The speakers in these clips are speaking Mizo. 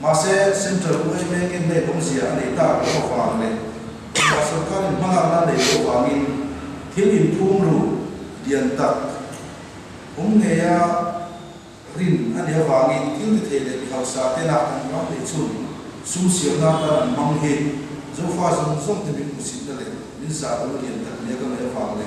Mahse, Central Buai Mengin hei lawmzia a nei ta loh avang leh India sawrkarin hmalakna nei loh avangin thil inphum ru lian tak awm ngeia rin a ni avangin thilti theih leh mihausa te lak an ram leh chun sum siamna atan an hmang hi Zofa zawng zawngte min hmu sitna leh min zah ru lian tak nia ka ngaih avang le.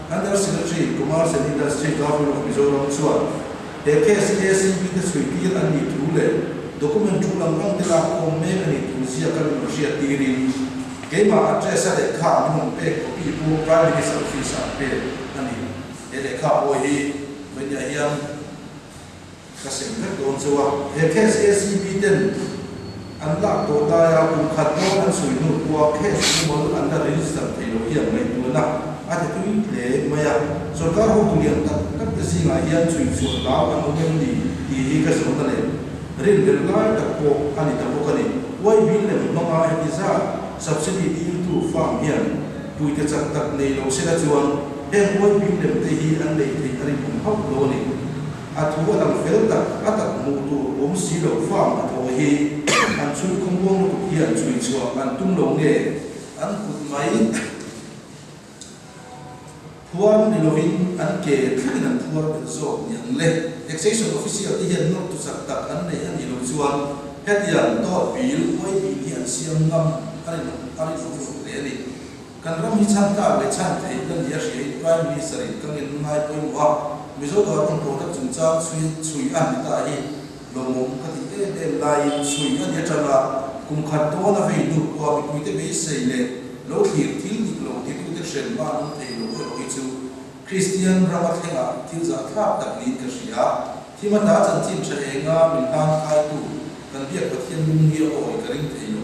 Under Secretary, Commerce and Industry, Government of Mizoram chuan he case KCB te chhuihtîr an nih thu leh document thu lam lamte lak khâwm mêk a nih thu ziah ka rawn hriat tîrin, keimah address a lehkha an rawn pêk copy pawh Prime Minister Office-ah an pêk a ni. He lehkha pawi hi vawinia hian. Ka sem hlek dawn chu a, he case hi SCB ten an lak tawh lai a, kum khat dawn an sawi lut pawh a, case chu mawlh an la register thei loh hian ngaihtuahna a ti tui hle mai a, sorkar hotu lian tak tak te zingah hian chhuinchhuah lau an awm em ni tih hi ka zawhna leh ril ber lai tak pawh a ni ta bawk a ni. YB lem hmanga heti zat subsidy tir tu farm hian puite chak tak nei lo se la chuan heng YB lem te hi an lei theih a rinawm hauh lo a ni. A thu a lang fel tak a tak hmuh tur awm si lo fang a pawh hi an chhun khawm bawm lutuk hian chui chhuah an tum lo nge? An kut mai phuar ni lovin an ke thlengin an phuar tel zawk niang le. Taxation official te hian nawr tuchak tak an neih a nih lo chuan hetiang dawt bil, huai bil hi an siam ngam a rinawm rinawm lut hle a ni. Kan ram hi chhanka leh chhan theihna nih a hriain Prime Minister in ka ngenna ngai pawimawh a, Mizo Dawr rawn pawh na chungchang chhui chhui a ni ta hi lawmawm ka ti em em laiin chhui a ni atanga kum khat dawn a vei nu pawha mipuite beisei leh lo thlir thil dik lo hi tu te hrem a an awm thei lo erawh hi chu Kristian rama thlenga thil zah thlak tak niin ka hria. Thima hla chanchin tha enga min hlan khlaitu kan Biak Pathian lung hi a awi ka ring thei lo.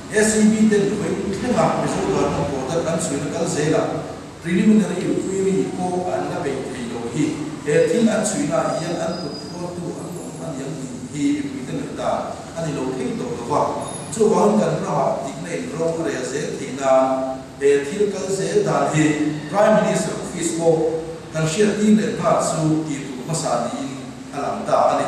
SEB ten khawi in thlengah Mizo Duarna Quota kan suih na kal zel a, Preliminary Inquiry pawh an la beih thei lo hi, he thil an suih naah hian an kut hrual tu an awm a ni ang tih hi mipui te nawih dan a ni lo thei tawh lova, chuvangin kan ramah dik na in ro a rel zel thei nan he thil kal zel dan hi Prime Minister Office pawh kan hriat tir leh nghal chu ti tur hmasa niin a lang ta a ni.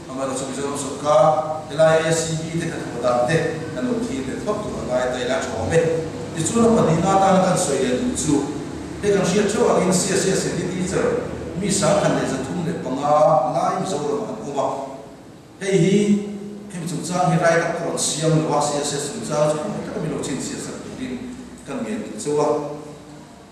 Amana chu Mizoram sawrkar helai SCB te kan haw dan te kan lo thlir ve thawk tur a ngai ta ila thawm e. Tichuan a pahnih nga atana kan sawi leh duh chu hei kan hriat theuh angin CSS Hindi Teacher mi sangkhat leh za thum leh panga lai Mizoram ah an awm a. Hei hi hemi chungchang hi rai tak tur an siam lo a, CSS chungchang chu hmangaih taka min lo chhinchhiat sak turin kan ngen duh cheu a.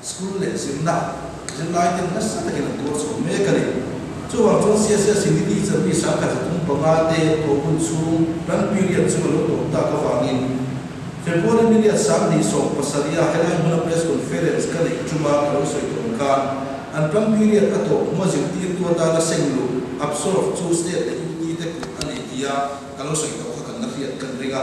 School leh zirna zirlai ten nasa takin an tuar chho mek a ni. Chuvang chuan CSLC ni teacher mi sangkhat zathum panga te pawh hun chhung run period chu a lo tawp tak avangin February ni leh Sang ni sawm pasaria helai hmuna press conference ka neih ṭum a ka lo sawi tawn khan an run period a tawp hnu a zirtirtu atana senglu absorb chu state leh UT te kut a ni tia ka lo sawi tawh kha kan la hriat kan ring a.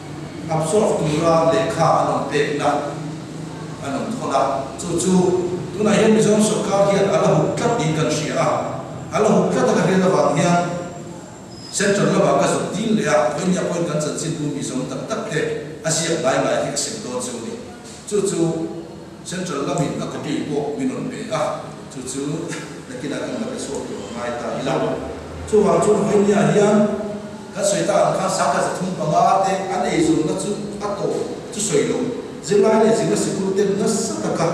Hapsawk tura lehkha an awm pekna an awm thawn a, chu chu tunah hian Mizoram sawrkar hian a la huk tlat niin kan hria a, a la huk tlat a ka hriat avang hian Central lamah ka zuk dil leh a, khawi nia khawiin kan chanchinbu Mizoram tak tak te a ziak ngai ngai hi ka sim dawn chu a ni, chu chu. Central lamin a copy pawh min rawn pe a, chu chu nakinah kan la pe chhuak tur a ngai ta ila. Chuvang chu Rohingya hian kan sawi ta ang khan sangka chi thum panga te an ei zawrhna chu a tawh chu sawi lo. Zirlai leh zirna sikul ten nasa taka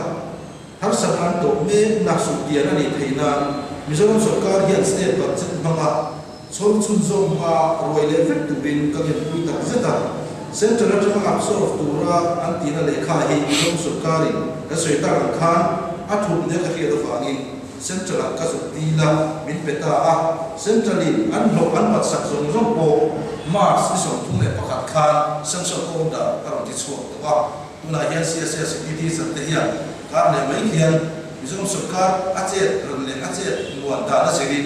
harsat an tawh mek nak suk tial a ni thei nan Mizoram sawrkar hian state budget hmanga, Chhawng chhun zawk hma ruai leh vek turin ka ngenpui tak zet a, Central atanga ngap sawk tura an tihna lehkha hi Inhawng sawrkarin kan sawi ta ang khan a thup hnel ka hriat avangin Central ah ka zut ti ila min pe ta a, Central in an hlawh an batsak zawng zawng pawh March ni sawmthum leh pakhat khan sanction awm dan a rawn ti chhuak tawh a, tunah hian CSA City thil zan te hian kar leh mai hian Mizoram sawrkar a chet ran leh a chet nuan dan a zir in.